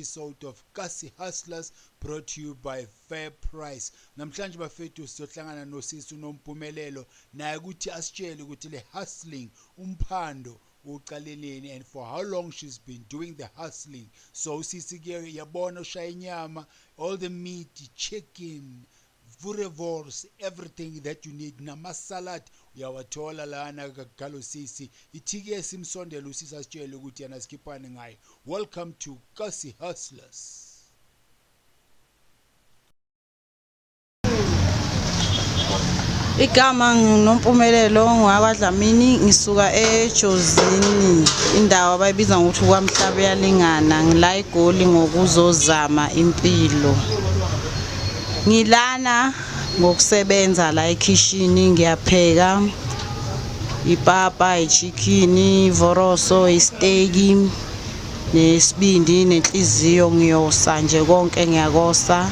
episode of Kasi Hustlers brought to you by Fair Price. Namhlanje bafethu sizohlangana nosisi unompumelelo naye ukuthi asitshele ukuthi le hustling umphando uqaleleni and for how long she's been doing the hustling. So usisi ke yabona ushaya inyama, all the meat, chicken, vurevors everything that you need nama salad uyawathola lana kagalo sisi ithiki esimsondela usisi asitshele ukuthi yena sikhiphani ngaye welcome to kasi hustlers Igama nginompumelelo ngwakwaDlamini ngisuka eJozini indawo abayibiza ngokuthi kwaMhlaba uyalingana ngila eGoli ngokuzozama impilo. Ngilana ngokusebenza la ekhishini ngiyapheka ipapa, ichikhini, ivoroso, isteki nesibindi nenhliziyo ngiyosa nje konke ngiyakosa.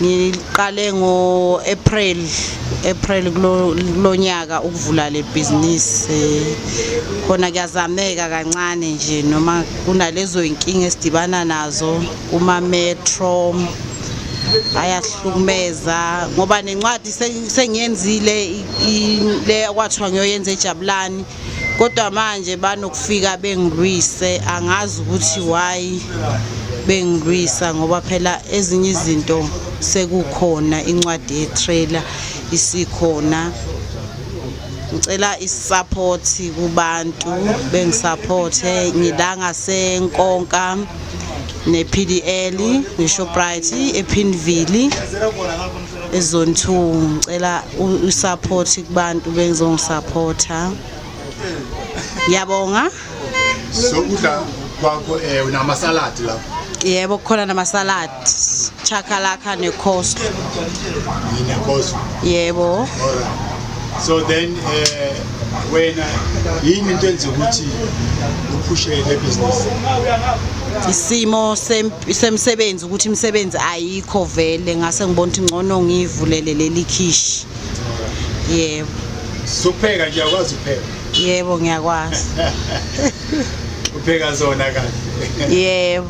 Ngiqale ngo-April April kulo nyaka ukuvula le bhizinisi khona kuyazameka kancane nje noma kunalezo iy'nkinga esidibana nazo kumametro ayasihlukumeza ngoba nencwadi sengiyenzile le kwathiwa ngiyoyenza ejabulani kodwa manje banokufika bengilwise angazi ukuthi why bengilwisa ngoba phela ezinye izinto sekukhona incwadi yetrailer isikhona ngicela isupporti kubantu bengisupporte ngila ngasenkonka ne-pdl ne-shoprite ephinville ezone two ngicela usupport kubantu bengizongisaphotha ngiyabonga sokudla kwakho um eh, namasaladi lapho yebo kukhona namasaladi Chakalaka neCoast. NeCoast. Yebo. Alright. So then eh wena yini into enze ukuthi uphushe le business? Isimo semsebenzi ukuthi imisebenzi ayikho vele ngase ngibona ukuthi ngcono ngivulele leli khishi. Yebo. Supheka nje akwazi ukupheka. Yebo ngiyakwazi. Upheka zona kahle. Yebo.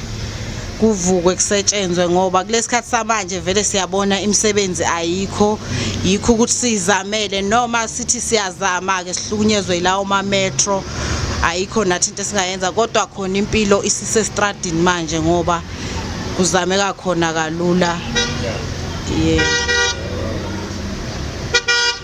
kuvukwe kusetshenzwe ngoba kulesikhathi samanje vele siyabona imisebenzi ayikho yikho ukuthi sizamele noma sithi siyazama ke sihlukunyezwe ilawo ma metro ayikho nathi into esingayenza kodwa khona impilo isise stradini manje ngoba kuzameka khona kalula yeah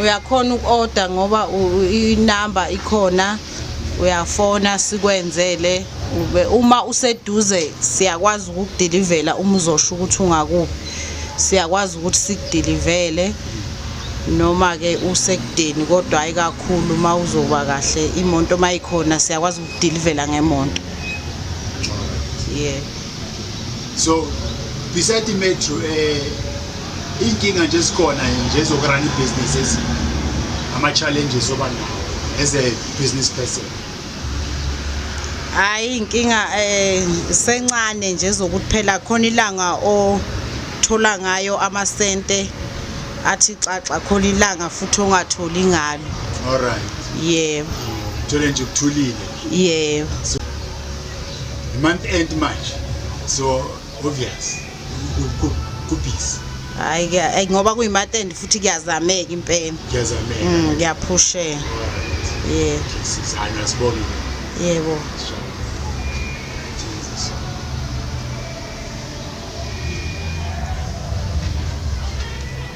uyakhona uku-order ngoba inamba ikhona uyafona sikwenzele ube uma useduze siyakwazi ukukudilivela uma uzosho ukuthi ungakuphi siyakwazi ukuthi sikudilivele noma-ke usekudeni kodwa hhayi kakhulu uma uzoba kahle imoto uma ikhona siyakwazi ukudilivela ngemonto yeah so beside imetro um eh, iy'nkinga nje ezikhona nje zokurana ibhizinisi ezinye ama-challenges oba nawo as a business person hhayi inkinga um eh, sencane nje zokuthi phela khona ilanga othola ngayo amasente athi xaxa khona ilanga futhi ongatholi ngalo all right yebo thole nje kuthulile yebo Month end manje. So obvious. Kubhizi. Hayi ke ngoba kuyimonth end futhi kuyazameka impela. Kuyazameka. Mm kuyaphusheka. Yeah. Sizana sibona. Yebo.